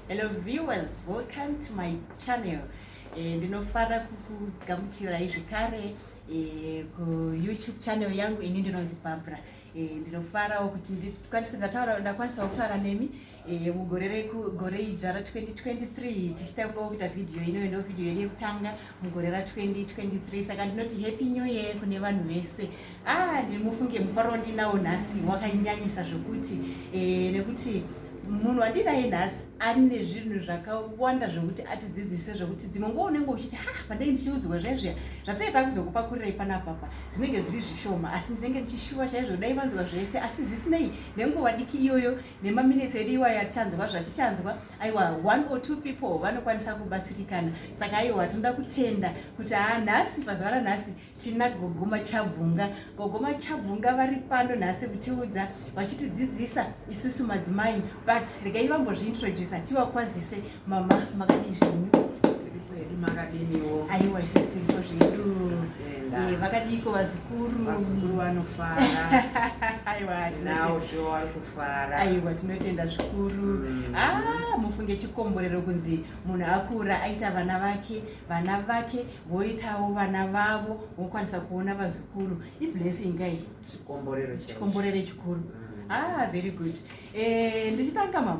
Hello viewers, welcome to my channel. Eh, ndinofara kukugamuchirai zvekare eh, kuyoutube channel yangu ini ndinonzi Barbara. Eh, ndinofarawo kuti ndikwanise ndataura ndakwanisawo kutaura nemi mugore gore ijara 2023 tichitangawo kuita vhidhiyo ino ino vhidhiyo yedu yekutanga mugore ra 2023 saka ndinoti happy new year kune vanhu vese ah ndimufunge mufaro wandinawo nhasi wakanyanyisa zvekuti eh, nekuti munhu wandinaye nhasi ane zvinhu zvakawanda zvekuti atidzidzise zvekuti dzimwe nguva unenge uchiti ha pandenge ndichiudzirwa zvaizviya zvatoita kuzokupakurira ipana papa zvinenge zviri zvishoma asi ndinenge ndichishuva chaizvo dai vanzwa zvese asi zvisinei nenguva diki iyoyo nemaminitsi edu iwayo atichanzwa zvatichanzwa aiwa one or two people vanokwanisa kubatsirikana saka aiwa tinoda kutenda kuti haa nhasi pazuva ranhasi tina gogoma chabvunga gogoma chabvunga vari pano nhasi kutiudza vachitidzidzisa isusu madzimai but regai vambozviintroducer tivakwazise Mama makadii zvenyu? Tiri kwedu makadiniwo? Aiwa isu tiriko zvedu. Eh, vakadiiko vazukuru? Vazukuru vanofara. Aiwa tinawo zvo vari kufara. Aiwa tinotenda zvikuru. Mm. Ah, mufunge chikomborero kunzi munhu akura aita vana vake, vana vake voitawo vana vavo, vokwanisa kuona vazukuru. Iblessing kai? Chikomborero chikuru. Chikomborero chikuru. Mm. Ah, very good. Eh, ndichitanga mama.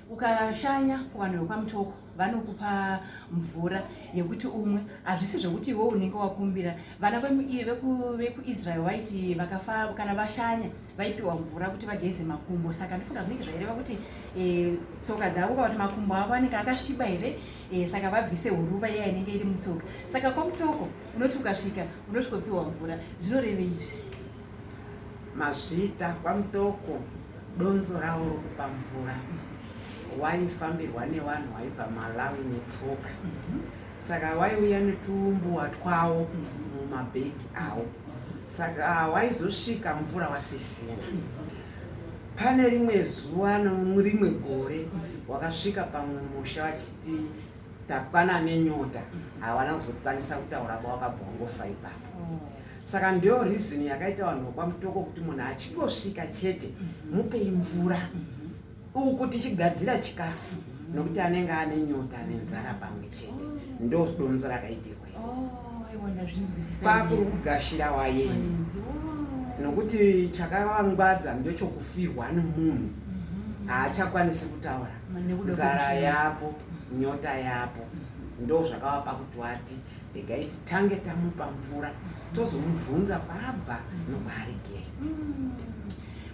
ukashanya kuvanhu vekwamutoko vanokupa mvura yekuti umwe hazvisi zvekuti iwe unenge wakumbira vana vekuisrael vaiti vakafa kana vashanya vaipiwa mvura kuti vageze makumbo saka ndifunga zvinenge zvaireva kuti e, tsoka dzavo kakuti makumbo avo anenge akasviba here e, saka vabvise huruva iya inenge iri mutsoka saka kwamutoko unoti ukasvika unosvikopiwa mvura zvinorevei izvi Mazvita kwaMutoko donzo rawo rokupa mvura waifambirwa nevanhu waibva Malawi netsoka saka waiuya netuumbuwa twawo mumabhegi awo saka waizosvika mvura wasisina pane rimwe zuva norimwe gore wakasvika pamwe musha vachiti Takwana nenyota havana kuzokwanisa kutaura ba wakabva wangofa ipapo. Mm. Saka ndiyo reason yakaita vanhu vekwa Mutoko kuti munhu achingosvika chete mm-hmm. mupei mvura mm-hmm. uku tichigadzira chikafu mm-hmm. nokuti anenge ane nyota nenzara pamwe chete ndodonzo rakaitirwa. kwakuri kugashira wayeni nokuti chakavangwadza ndechokufirwa nemunhu mhm. haachakwanisi kutaura nzara yapo nyota yapo mhm. ndo zvakavapa kuti wati regai titange tamupa mvura mhm. tozomubvunza kwabva nokwaarigei mm.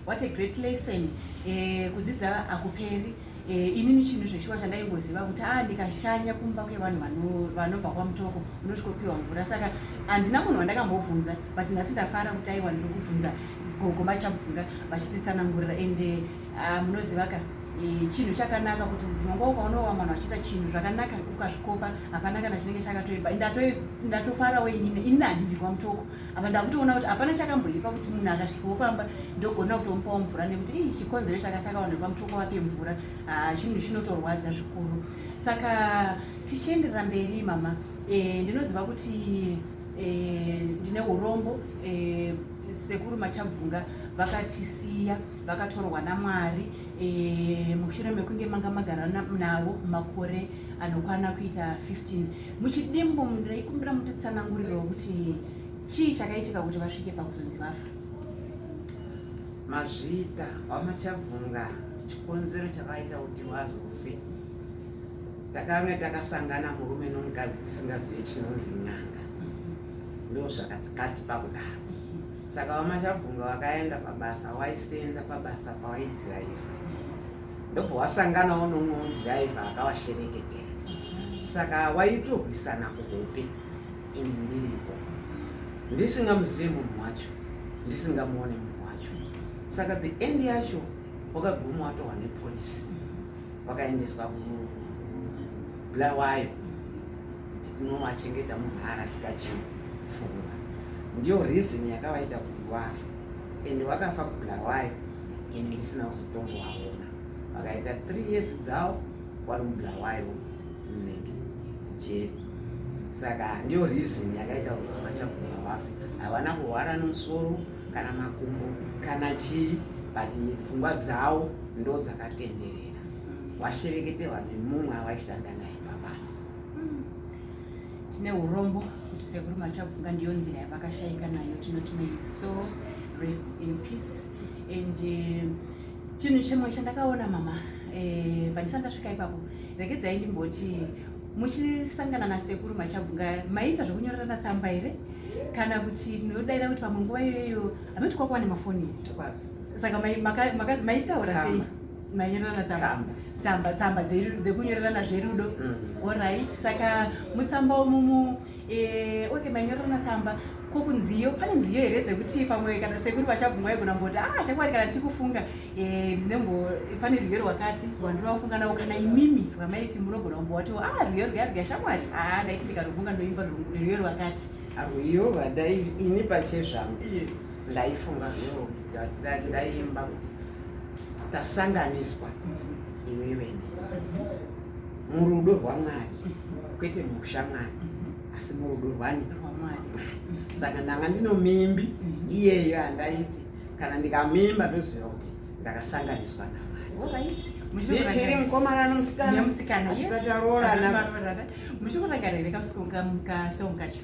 what a great lesson eh, kudzidza akuperi Eh, inini chinhu zveshuwa chandaingoziva kuti a ah, ndikashanya kumba kwevanhu vanobva kwamutoko unosvikopiwa mvura saka handina munhu wandakambobvunza but nhasi ndafara kuti aiwa ndiri kubvunza gogo machabvunga vachititsanangurira ende eh, ah, munoziva ka eh, chinhu chakanaka kuti dzimwe nguva ukaonowa mwana vachiita chinhu zvakanaka ukazvikopa hapana kana chinenge chakatoipa ndatofarawo inini inini handibvi kwamutoko apa ndakutoona kuti hapana chakamboipa kuti munhu akasvikawo pamba ndogona kutomupawo mvura nekuti ii chikonzero chakasaka vanhu vepamutoko vape mvura ah, chinhu chinotorwadza zvikuru saka tichienderera mberi mama eh, ndinoziva kuti eh, ndine urombo eh, sekuru machabvunga vakatisiya vakatorwa namwari mushure mekunge manga magara navo makore anokwana kuita 15 muchidimbu ndaikumbira mutitsananguriro wekuti chii chakaitika kuti vasvike pakuzonzi vafa mazvita wamachabvunga chikonzero chakaita kuti wazofe takanga takasangana murume nomukadzi tisingazive chinonzi nyanga ndo zvakatikati pakudaro saka wamachabvunga wakaenda pabasa waisenza pabasa pawaidhiraivha ndobva wasanganawo nomwe mudhiraivha akavashereketera mhm. saka waitorwisana kuhope ini ndiripo ndisingamuzive munhu wacho ndisingamuone munhu wacho saka the end yacho wakaguma watohwa nepolisi wakaendeswa kubulawayo kuti tinowachengeta munhu arasika chii pfungwa ndiyo reason yakavaita kuti wafa and wakafa kubulawayo ini ndisina kuzotombovaona vakaita three years dzavo wari mubulawayo mnenge jeri saka ndiyo reason yakaita kuti vamachavhunga vafe havana kuhwara nomusoro kana makumbo kana chii but pfungwa dzavo ndo dzakatenderera washerekete vanhu mumwe avaishanda naye pabasa tine urombo kuti sekuru machabvunga ndiyo nzira yavakashaika nayo tinoti may so rest in peace and eh, chinhu chimwe chandakaona mama eh, pandisati ndasvika ipapo regedzai ndimboti muchisangana nasekuru machabvunga maiita zvekunyorerana tsamba here kana kuti ndinodaira kuti pamwe nguva iyoyo hamati kwakuwa nemafoni saka makazi maitaura sei mainyorerana tsamba tsamba tsamba dzekunyorerana zverudo mm. orit saka mutsamba umumu eh, oke mainyorerana tsamba ko kunziyo pane nziyo here dzekuti pamwe kana sekuri vachabvumwa yegona mboti a ah, chakwari kana tichikufunga eh, ndinembo pane rwiyo rwakati rwandinovafunga navo kana imimi rwamaiti munogona kumbowatiwo a ah, rwiyo rwiya rwiya shamwari a ah, ndaiti ndikarufunga ndoimba rwiyo rwakati rwiyo vadai ini pachezvangu ndaifunga rwiyo ndaimba kuti tasanganiswa iwe vene murudo rwamwari kwete muushamwari asi murudo rwani saka ndanga ndinomimbi iyeyo andaiti kana ndikamimba ndoziva kuti ndakasanganiswa navo ndichiri mukomana nomusikana tisati aroorana muchikurangarira kamusikana kacho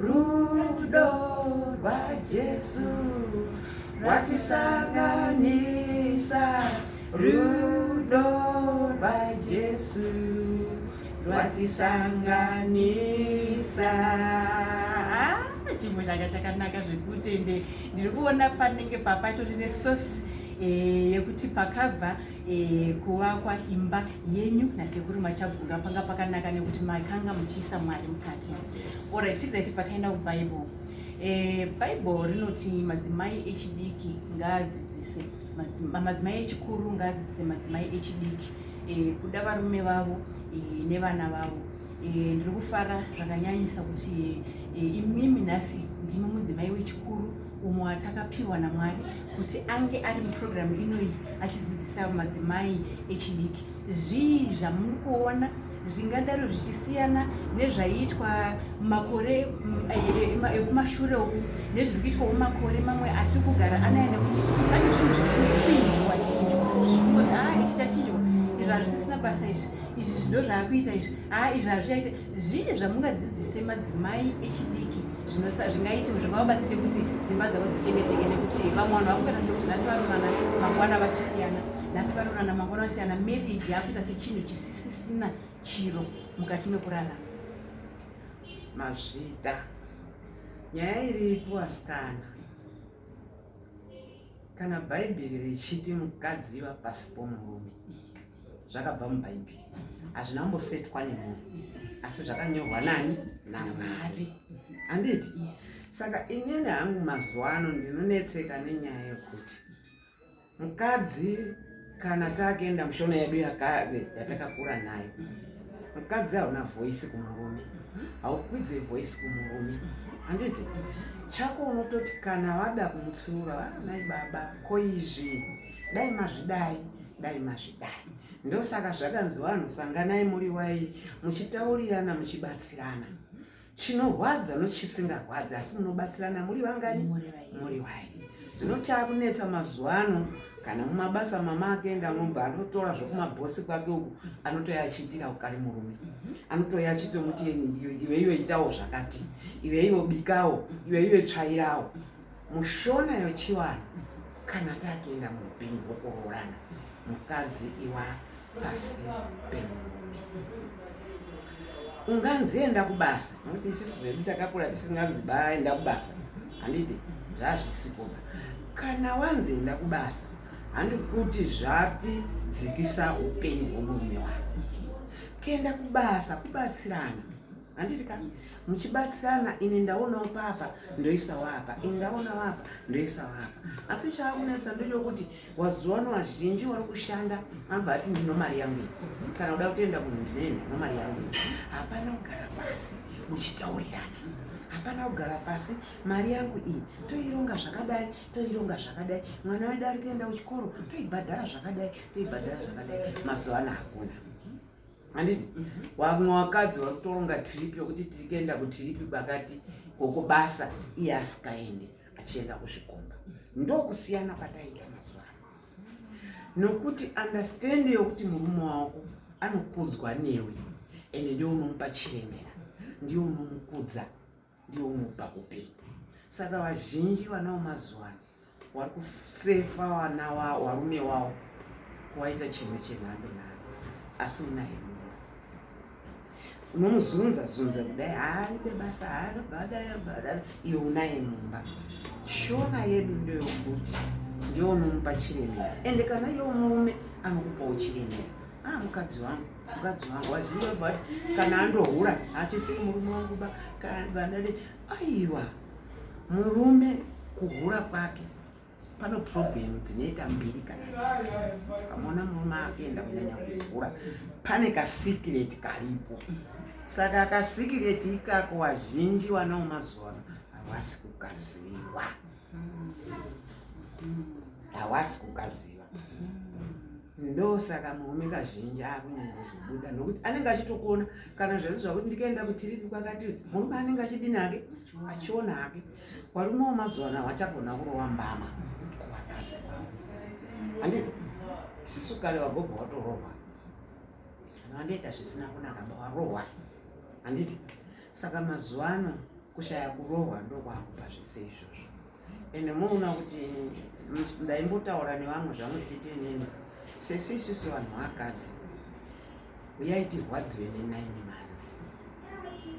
Rudo rwaJesu rwatisanganisa, rudo rwaJesu rwatisanganisa. Ah, chimbo changa chakanaka zvekuti ende ndiri kuona panenge papatori nesosi Eh, yekuti pakabva eh, kuvakwa imba yenyu nasekuru machabvunga panga pakanaka nekuti makanga muchiisa mwari mukati Alright, tidzai tibva taenda kuBible. Eh, Bible rinoti madzimai echidiki ngaadzidzise madzimai echikuru ngaadzidzise madzimai echidiki eh, kuda varume vavo eh, nevana vavo eh, ndiri kufara zvakanyanyisa kuti eh, imimi nhasi ndimi mudzimai wechikuru umwe watakapiwa namwari kuti ange ari muprogramu inoyi achidzidzisa madzimai echidiki zvii zvamuri kuona zvingadaro zvichisiyana nezvaiitwa makore mm, eh, eh, eh, ekumashure uku nezviri kuitwawo makore mamwe atiri kugara anaya nekuti pane zvinhu zviri kuchinjwa chinjwa zvikunzi haa ah, ichi chachinjwa izvi hazvisisina basa izvi izvi zvido zvaakuita izvi haa ah, izvi hazvichaita zvii zvamungadzidzise madzimai echidiki zvingaiti zvingawabatsire kuti dzimba dzavo dzichengeteke nekuti vamwe vanhu vakuita sekuti nhasi varonana mangwana vasisiyana nhasi varonana mangwana vasiyana marriage yakuita sechinhu chisisi zvisisina chiro mukati mekurarama mazvita nyaya iripo asikana kana bhaibheri richiti mukadzi iva pasi pomurume zvakabva mubhaibheri hazvina kumbosetwa nemunhu asi zvakanyorwa nani namwari handiti saka inini hangu mazuva ano ndinonetseka nenyaya yokuti Mukadzi kana takuenda mushona yedu yatakakura nayo, mukadzi hauna voice kumurume, haukwidze voice kumurume handiti chako unototi kana vada kumutsiura vanai ah, baba ko izvi dai mazvidai dai mazvidai ndosaka zvakanzi vanhu sanganai muri wai muchitaurirana muchibatsirana chinorwadza nochisingarwadzi asi munobatsirana muri vangani muri wai zvino chakunetsa mazuva ano kana mumabasa mama akenda mumba anotora zvekumabhosi kwake uku anotoya achiitira ukari murume mhm. anotoya achitomuti iwe iwe itawo zvakati iwe iwe bikawo iwe iwe tsvairawo mushona yochiwana kana takienda muhupenyu hwokuroorana mukadzi iwa pasi pemurume unganzi enda kubasa nokuti isisu zvedu takakura tisinganzi baenda kubasa handiti zvazvisikoba kana wanzi enda kubasa handi kuti zvati dzikisa upenyu hwomurume wako kuenda kubasa kubatsirana handiti ka muchibatsirana ini ndaonawo papa ndoisawo apa ini ndaonawo apa ndoisawo apa asi chaakunetsa ndechokuti wazuvano vazhinji wari kushanda anobva ati ndino mari yangu iyi kana kuda kutoenda kunhu ndinene no mari yangu iyi hapana kugara pasi muchitaurirana hapana kugara pasi mari yangu iyi toironga zvakadai toironga zvakadai mwana wedu ari kuenda kuchikoro toibhadhara zvakadai toibhadhara zvakadai mazuva ano hakuna handiti vamwe mhm. vakadzi vari kutoronga tiripi yokuti tiri kuenda kutiripi kwakati koko basa iye asikaende achienda kuzvikomba ndokusiyana kwataita mazuva ano nokuti understandi yokuti murume wako anokudzwa newe ende ndiwe unomupa chiremera ndiwe unomukudza ndiwo unopa upenyu saka vazhinji vana vemazuva ano wari kusefa vana wavo varume wavo kuwaita chimwe chenhando nhando asi unaye mumwe unomuzunza zunza kudai haaite basa haabadabadada iwe unaye mumba shona yedu ndeyokuti ndiyo unomupa chiremera ende kana iyo murume anokupawo chiremera aa ah, mukadzi wangu mukadzi wangu waziva but kana andohura hachisiri murume wangu ba kana vandadi aiwa murume kuhura kwake pano problem dzinoita mbiri kana kamona murume akuenda kunyanya kuhura pane kasikireti karipo saka kasikireti ikako wazhinji wanawo mazuvano havasi kukaziwa hawasi kukaziva ndosaka murume kazhinji akunyanya kuzobuda nokuti anenge achitokuona kana zvazi zvakuti ndikaenda kutiripi kwakati murume anenge achidini hake achiona hake varume wemazuva ano hawachagona kurova mbama kuvakadzi vavo handiti sisu kare vagobva watorohwa kana vandoita zvisina kunaka varohwa handiti saka mazuva ano kushaya kurohwa ndokwakupa zvese izvozvo ende moona kuti ndaimbotaura nevamwe zvamwe zviite inini sese isusu vanhu vakadzi uyai tirwadziwe nenine months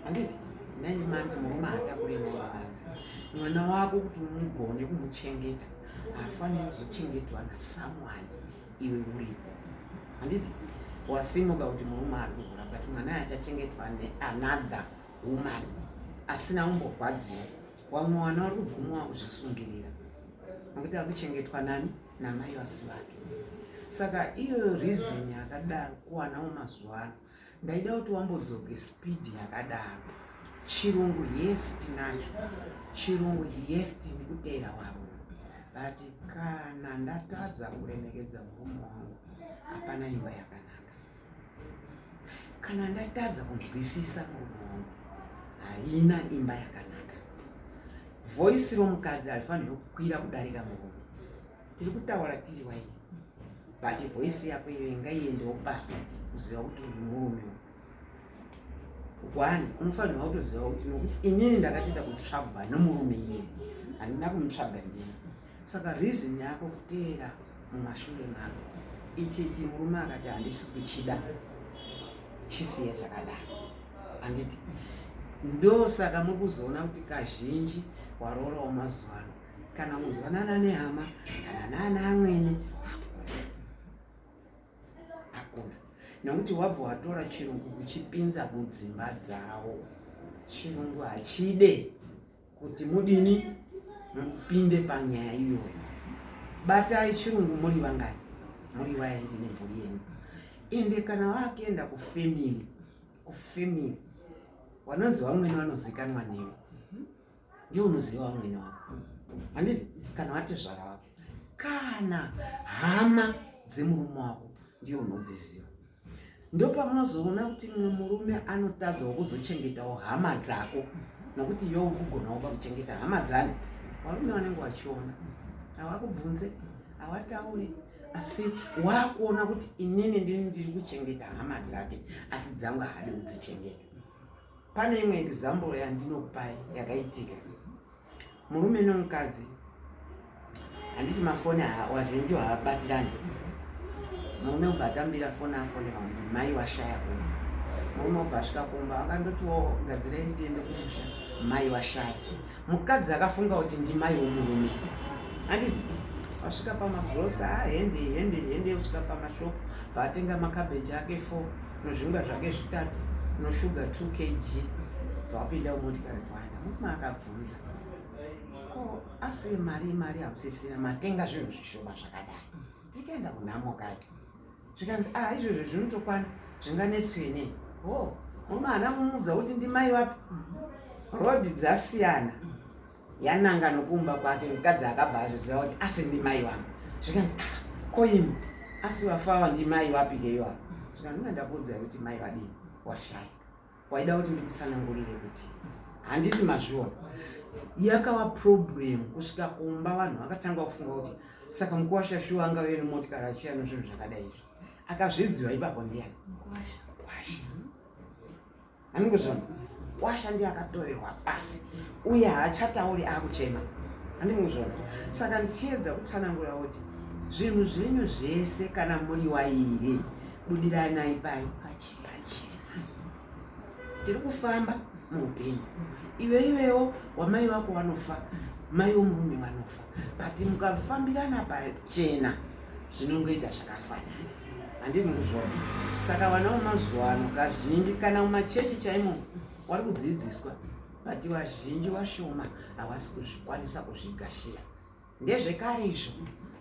handiti nine months murume haatakure nine months mwana wako kuti umugone kumuchengeta haafaniri kuzochengetwa nasamwani iwe uripo handiti wasimuka kuti murume ari kuhura but mwana achachengetwa neanother woman asina umborwadziwa wamwe wana wari kuguma wakuzvisungirira nokuti ari kuchengetwa nani namai vasi vake saka iyoyo reason yakadaro kuwanawo mazuva ano ndaida kuti wambodzoke speed yakadaro chirungu yes tinacho chirungu yes tini kuteera warume but kana ndatadza kuremekedza murume wangu hapana imba yakanaka kana ndatadza kunzwisisa murume wangu haina imba yakanaka voisi romukadzi harifanirwe kukwira kudarika murume tiri kutaura tiri waini but voice yako iwe ngaiendewo pasi kuziva kuti uyu murume one unofanirwa kutoziva kuti nokuti inini ndakatoita kutsvagwa nomurume iye handina kumutsvaga ndini saka reason yako kuteera mumashure mako ichichi murume akati handisi kuchida chisiya chakadaro handiti ndosaka muri kuzoona kuti kazhinji waroora wamazuva ano kana kuzwanana nehama kana nana amwene hakuna nekuti wabva watora chirungu kuchipinza mudzimba dzawo chirungu hachide kuti mudini mupinde panyaya iyoyo batai chirungu muri vangani muri vairi nemhuri yenyu ende kana vakuenda kufemili kufemili vanonzi vamwene vanozikanwa newe ndiwe unoziva vamwene wako handiti kana vatezvara vako kana hama dzemurume wako ndiyo unodziziva ndopamunozoona kuti mumwe murume anotadzawo kuzochengetawo hama dzako nokuti iwe ukugonawo pakuchengeta hama dzani varume vanenge vachiona havakubvunze havataure asi waakuona kuti inini ndini ndiri kuchengeta hama dzake asi dzangu haadi kudzichengeta Pane imwe example yandinopai yakaitika murume nomukadzi handiti mafoni wazhinji haabatirani murume ubva atambira foni afoni hanzi mai washaya kuno murume ubva asvika kumba akandotiwo gadzirei tiende kumusha mai washaya mukadzi akafunga kuti ndimai womurume handiti wasvika pamagrosa ah, hende hende hende usvika pamashopu vaatenga makabeji ake four nozvingwa zvake zvitatu noshuga two kg vapinda umotikari vana mukuma akabvunza ko asi mari mari hamusisina matenga zvinhu zvishoma zvakadai tikaenda kunhamo kake zvikanzi a ah, izvozvo zvinotokwana zvinganetswe nei ho moma ana mumudza kuti ndimai wapi rod dzasiyana yananga nokuumba kwake mukadzi akabva azviziva kuti asi ndimai wangu zvikanzi a ah, koimi asi wafawa ndimai wapi keyoa zvikanzi nga ndakuudza kuti mai vadii washaya waida kuti ndikutsanangurire kuti handiti mazviona yakava problem kusvika kumba vanhu vakatanga kufunga kuti saka mukuwasha shuwa anga veri motikari achiuya nezvinhu zvakadai izvo akazvidziwa ipapo ndiyani kwasha anenge zvona kwasha ndiye akatorerwa pasi uye haachatauri akuchema andinge zvona saka ndichiedza kutsanangura kuti zvinhu zvenyu zvese kana muri wairi budiranai pai pachi pachena tiri kufamba muupenyu iwe iwewo wamai vako vanofa mai vomurume vanofa but mukafambirana pachena zvinongoita zvakafanana handini kuzvona saka vana vemazuva ano kazhinji kana mumachechi chaimo wari kudzidziswa but vazhinji vashoma havasi kuzvikwanisa kuzvigashiya ndezvekare izvo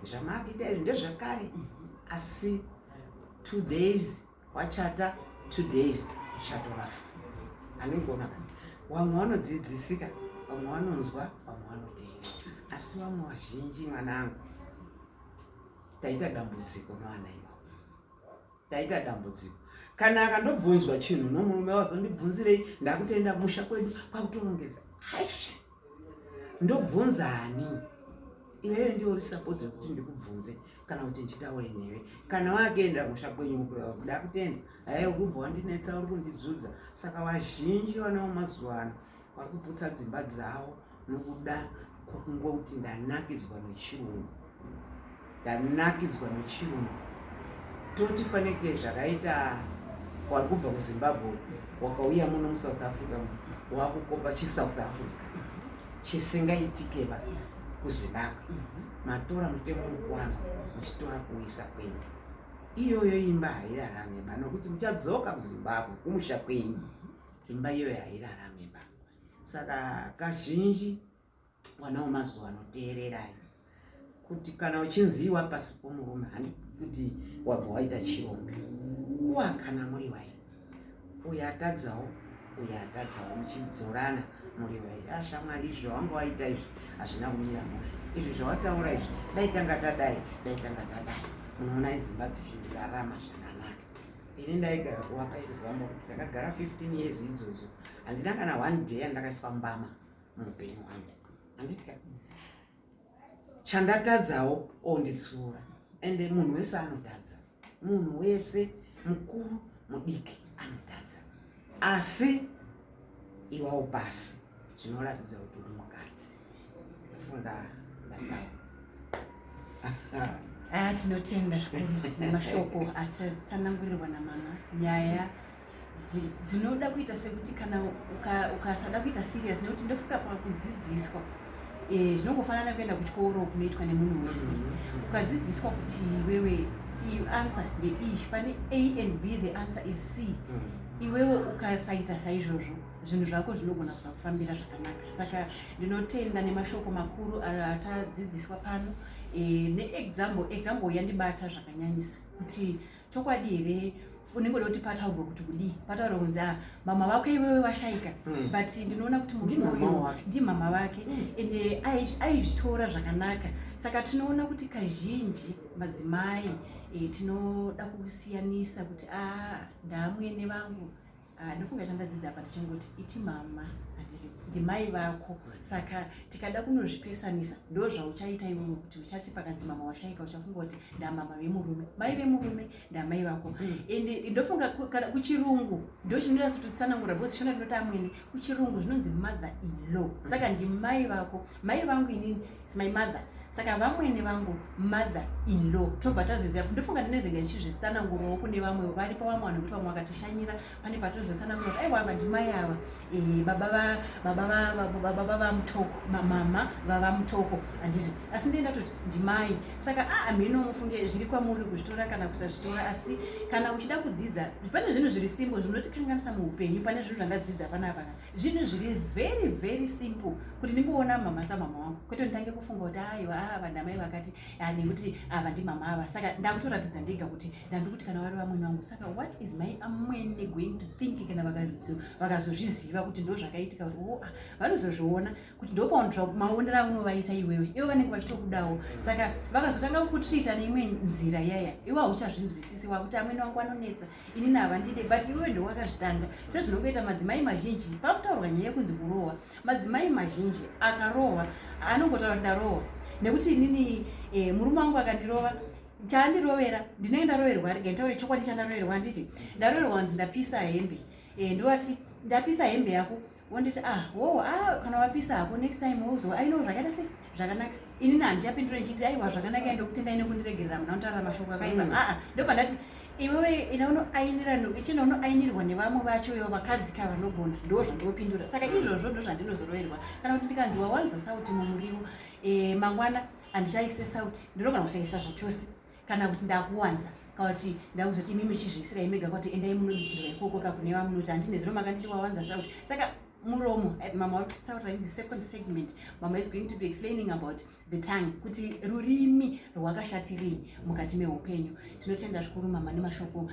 zvamakuita izvi ndezvekare asi two days wachata two days uchatovafa anongona ka vamwe vanodzidzisika vamwe vanonzwa vamwe vanoteera asi vamwe vazhinji mwanangu taita dambudziko novana ivo taita dambudziko kana akandobvunzwa chinhu nomurume wazondibvunzirei ndakutenda musha kwedu kwakutorongedza haisha ndobvunza ani iwewe ndiwo uri suppose yekuti ndikubvunze kana kuti nditaure newe kana wakuenda musha kwenyu kuda kutenda haye ukubva wandinetsa uri kundidzudza saka vazhinji vanawo mazuva ano vari kuputsa dzimba dzavo nokuda kwokungoti ndanakidzwa nechirungu ndanakidzwa nechirungu toti fanike zvakaita wari kubva kuzimbabwe wakauya muno musouth africa wakukopa chisouth africa chisingaitikeba kuzimbabwe matora mutemo mukwano muchitora kuisa kwende iyoyo imba hairarame ba nokuti muchadzoka kuzimbabwe kumusha kwenyu imba iyoyo hairarame ba saka kazhinji mwana wemazuva ano teererai kuti kana uchinzi iwa pasi pomurume handi kuti wabva waita chirombe kuwa kana muri vairi uyo atadzawo uyo atadzawo muchidzorana muri vairi ashamwari ah, izvi zvawanga waita izvi hazvina kumira muzvo izvi zvawataura izvi dai tanga tadai dai tanga tadai munoona idzimba dzichirarama zvakanaka ini ndaigara kuvapa example kuti ndakagara 15 years idzodzo handina kana one day yandakaiswa mbama muupenyu hwangu handitya chandatadzawo onditsiura ende munhu wese anotadza munhu wese mukuru mudiki anotadza asi iwawo pasi zvinoratidza kuti uri mukadzi funga ndataura aya tinotenda zvikuru nemashoko atatsanangurirwa namama nyaya dzinoda kuita sekuti kana ukasada uka kuita serious nekuti ndofika pakudzidziswa eh, zvinongofanana e, kuenda kuchikoro kunoitwa nemunhu wese mm-hmm. ukadzidziswa kuti wewe you answer the ish pane a and b the answer is c mm. iwewe ukasaita saizvozvo zvinhu zvako zvinogona kusakufambira zvakanaka saka ndinotenda nemashoko makuru atadzidziswa pano e, neexample example yandibata zvakanyanyisa kuti chokwadi here unenge uda kuti pataurwa kuti kudii pataurwa kunzi a ah, mama vako iwewe vashaika mm. but ndinoona kuti muruyo ndimama vake mm. ende aizvitora zvakanaka saka tinoona kuti kazhinji madzimai e, tinoda kusiyanisa kuti a ah, ndaamwene vangu Ah, ndofunga chandadzidza apa ndichingoti iti mama handiti ndimai vako saka tikada kunozvipesanisa ndo zvauchaita iwewe kuti uchati pakanzi mama washaika uchafunga kuti ndamama vemurume mai vemurume ndamai vako hmm. ende ndofunga kana kuchirungu ndochinoita sototsanangura bcause shona ndinoti amwene kuchirungu zvinonzi mother in law saka ndimai vako mai vangu inini It's my mother saka vamwene vangu mother in law tobva tazoziva ndofunga ndinezenge ndichizvitsanangurawo kune vamwe vari pavamwe vanhu kuti vamwe vakatishanyira pane patozotsanangura kuti aiwa ava ndimai ava eh, baba vamutoko mama vava mutoko handiti asi ndiye ndatoti ndimai saka aa ah, mheno mufunge zviri kwamuri kuzvitora kana kusazvitora asi kana uchida kudzidza pane zvinhu zviri simbo zvinotikanganisa muupenyu pane zvinhu zvandadzidza panapaka zvinhu zviri very very simple kuti ndingoona mama samama wangu kwete nditange kufunga kuti aiwa a ah, vanhu amai vakati ah, nekuti ava ah, ndimama ava saka ndakutoratidza ndega kuti ndandi kuti kana vari vamwene wangu saka what is my amwene going to think kana vakazozviziva kuti ndo zvakaitika kuti o oh, a vanozozviona kuti ndopaonera maonero aunovaita iwewe ivo vanenge vachitokudawo saka vakazotanga kukutreata neimwe nzira yaya iwe hauchazvinzwisisi wakuti amwene wangu anonetsa ini navandide but iwe ndowakazvitanga sezvinongoita madzimai mazhinji pakutaurwa nyaya yekunzi kurohwa madzimai mazhinji akarohwa anongotaura kuti ndarohwa nekuti inini e, murume wangu akandirova chaandirovera ndinenge ndaroverwa rega nditaure chokwadi chandaroverwa handiti ndaroverwa kunzi ndapisa hembe e, ndovati ndapisa hembe yako wonditi ah wowo ah kana wapisa hako next time wouzo aino ah, zvakaita sei zvakanaka ini na handichapindura ndichiti aiwa zvakanaka ende kutendai nekundiregerera muna unotaurira mashoko akaipa mm. aa ah, ndopa ndati iwewe ina unoainira ichina unoainirwa nevamwe vacho ivo vakadzi ka vanogona ndo zvandinopindura saka mm. izvozvo ndo zvandinozoroverwa kana kuti ndikanzi wawanza sauti mumuriwo eh, mangwana handichaise sauti ndinogona kusaisa zvachose kana kuti ndakuwanza kana kuti ndakuzoti imi muchizviisira imega kuti endai munobikirwa ikoko ka kune vamunoti handine zero makanditi wawanza sauti saka muromo eh, mama wari kutaurira in the second segment mama is going to be explaining about the tongue kuti rurimi rwakashatirii mukati meupenyu tinotenda zvikuru mama nemashoko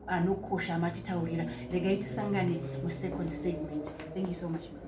anokosha ma, ma, matitaurira regai tisangane musecond segment thank you so much mama.